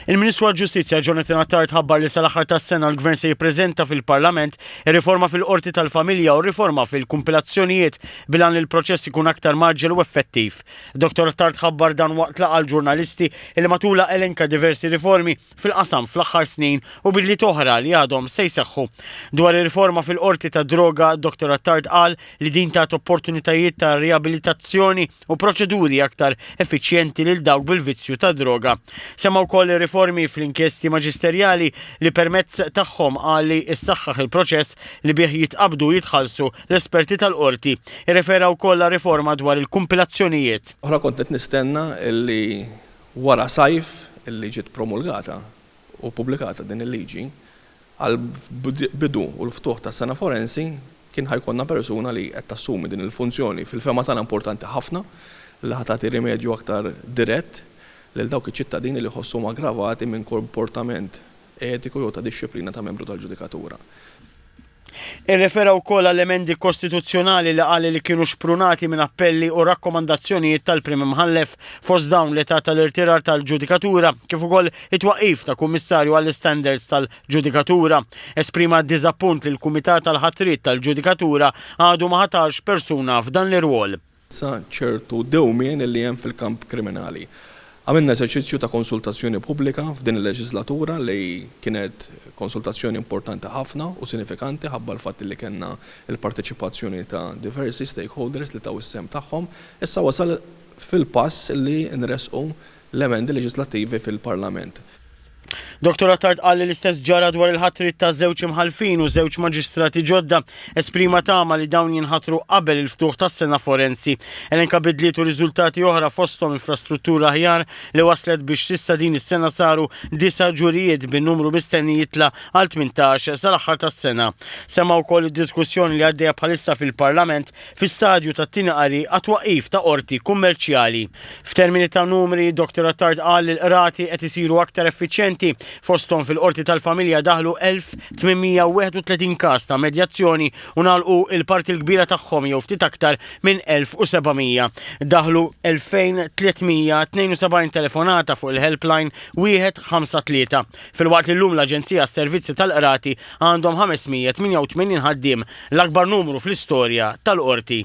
Il-Ministru għall-Ġustizzja Jonathan Attard ħabbar li sal-aħħar tas-sena l-Gvern se jippreżenta fil-Parlament ir-riforma fil-Qorti tal-Familja u r-riforma fil-kumpilazzjonijiet bil-għan li l-proċess ikun aktar mgħaġġel u effettiv. Dottor Attard ħabbar dan waqt laqgħa għall-ġurnalisti li matulha elenka diversi riformi fil-qasam fl-aħħar snin u bidliet oħra li għadhom se jseħħu. Dwar ir-riforma fil-Qorti tad-Droga, Dottor Attard qal li din tat opportunitajiet ta' riabilitazzjoni u proċeduri aktar effiċjenti lil dawk bil-vizzju tad-droga. Semma wkoll ir-riformi fl-inkjesti maġisterjali li permezz tagħhom qal li ssaħħaħ il-proċess li bih jitqabbdu u jitħallsu l-esperti tal-Qorti. Irrefera wkoll għar-riforma dwar il-kumpilazzjonijiet. Oħra kont qed nistenna li wara sajf li ġiet promulgata u ppubblikata din il-liġi Għall-bidu u l-ftuħ tas-sena forensi kien ħa jkollna persuna li qed tassumi din il-funzjoni fil-fehma tagħna importanti ħafna li ħa tagħti rimedju aktar dirett lil dawk iċ-ċittadini li jħossuhom aggravati minn komportament etiku jew ta' dixxiplina ta' membru tal-ġudikatura. Irrefera wkoll għall-emendi kostituzzjonali li qal li kienu xprunati minn appelli u rakkomandazzjonijiet tal-Prim Imħallef, fost dawn l-età tal-irtirar tal-ġudikatura kif ukoll It-twaqqif ta' Kummissarju għall-Istandards tal-Ġudikatura esprima d-diżappunt li l-Kumitat għall-Ħatriet tal-Ġudikatura għadu ma ħatarx persuna f'dan l-irwol. sa ċertu dewmien li hemm fil-kamp kriminali. Għamilna eżerċizzju ta' konsultazzjoni pubblika f'din il-leġiżlatura li kienet konsultazzjoni importanti ħafna u sinifikanti ħabba l-fatt li kellna l-parteċipazzjoni ta' diversi stakeholders li taw is-sehem tagħhom. Issa wasal fil-pass li nressqu l-emendi leġislattivi fil-Parlament. Dottor Attard qal li l-istess ġara dwar il-ħatriet ta' żewġ imħallfin u żewġ maġistrati ġodda. Esprima tama li dawn jinħatru qabel il-ftuħ tas-sena forensi. Elenka bidliet u riżultati oħra fosthom infrastruttura aħjar li wasslet biex s'issa din is-sena saru disa' ġurijiet bin-numru mistenni jitla' għal tmintax sal-aħħar tas-sena. Semma wkoll id-diskussjoni li għaddejja bħalissa fil-Parlament fi stadju tat-tieni qari għat-twaqqif ta' qorti kummerċjali. F'termini ta' numri, Dr Attard qal li l-qrati qed isiru aktar effiċjenti, fosthom fil-Qorti tal-Familja daħlu 1,831 każ ta' medjazzjoni u ngħalqu l-parti l-kbira tagħhom jew ftit aktar minn 1,700. Daħlu 2,372 telefonata fuq il-helpline wieħed ħamsa tlieta, filwaqt li llum l-Aġenzija għas-Servizzi tal-Qrati Għandhom 588 ħaddiem, l-akbar numru fl-istorja tal-Qorti.